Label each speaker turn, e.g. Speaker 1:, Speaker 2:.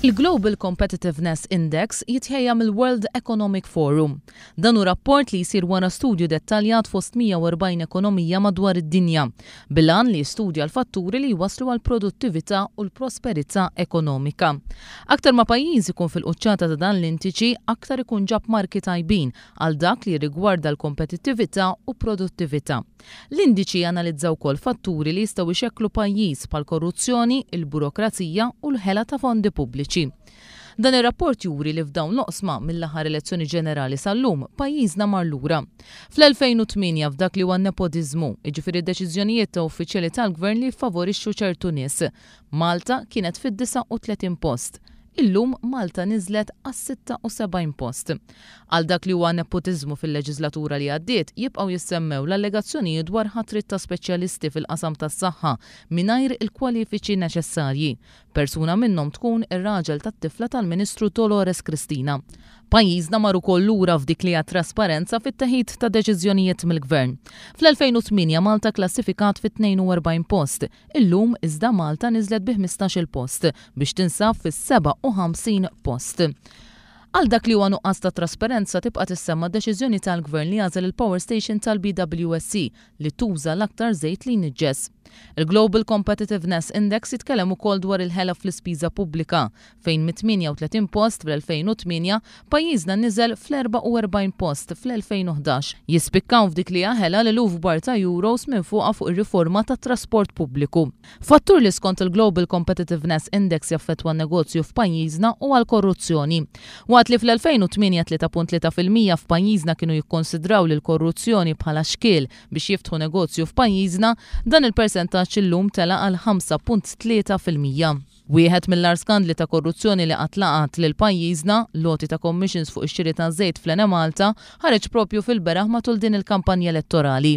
Speaker 1: Il-Global Competitiveness Index jitħejja mill-World Economic Forum. Dan hu rapport li jsir wara studju dettaljat fost 140 ekonomija madwar id-dinja, bil-għan li jistudja l-fatturi li jwasslu għall-produttività u l-prosperità ekonomika. Aktar ma pajjiż ikun fil-quċċata ta' dan l-indiċi, aktar ikun ġab marki tajbin għal dak li jirrigwarda l-kompetittività u produttività. L-indiċi janalizza wkoll fatturi li jistgħu jxekklu pajjiż bħall-korruzzjoni, il-burokrazija u l-ħela ta' fondi pubbliċi. Dan ir-rapport juri li f'dawn l-oqsma, mill-aħħar elezzjoni ġenerali sal-lum, pajjiżna mar lura. Fl-2008 f'dak li huwa n-nepotiżmu, jiġifieri deċiżjonijiet ta' uffiċjali tal-Gvern li jiffavorixxu ċertu nies, Malta kienet fid-39 post. Illum Malta niżlet għas-76 post. Għal dak li huwa neppotiżmu fil-leġislatura li għaddiet jibqgħu jissemmew l-allegazzjonijiet dwar ħatrit ta' speċjalisti fil-qasam tas-saħħa mingħajr il-kwalifiċi neċessarji. Persuna minnhom tkun ir-raġel tat-tifla tal-Ministru Dolores Cristina. Pajjiżna mar ukoll lura f'dik li hija t-trasparenza fit-teħid ta' deċiżjonijiet mill-Gvern. Fl-2008 Malta kklassifikat fit-42 post. Illum iżda Malta niżlet bi ħmistax-il post biex tinsab fis-57 post. Għal dak li huwa nuqqas ta' trasparenza tibqa' tissemma deċiżjoni tal-Gvern li jagħżel il-power station tal-BWSC li tuża l-aktar żejt li jniġġes. Il-Global Competitiveness Index jitkellem ukoll dwar il-ħela fl-ispiża pubblika fejn mit-38 post fl-2008 pajjiżna niżel fl-44 post fl-2011. Jispikkaw f'dik li jaħela li luf kbar ta' euros minn fuqha fuq ir-riforma tat-trasport pubbliku. Fattur li skont il-Global Competitiveness Index jaffettwa n-negozju f'pajjiżna huwa l-korruzzjoni. Waqt li fl-2008 3.3 fil-mija f'pajjiżna kienu jikkonsidraw lill-korruzzjoni bħala xkiel biex jiftħu negozju f'pajjiżna, dan il-persentaġġ illum tela' għal 5.3 fil-mija. Wieħed mill-agħar skandli ta' korruzzjoni li qatt laqat lil pajjiżna, l-għoti ta' commissions fuq ix-xiri taż-żejt fl-Enemalta, ħareġ proprju fil-beraħ matul din il-kampanja elettorali.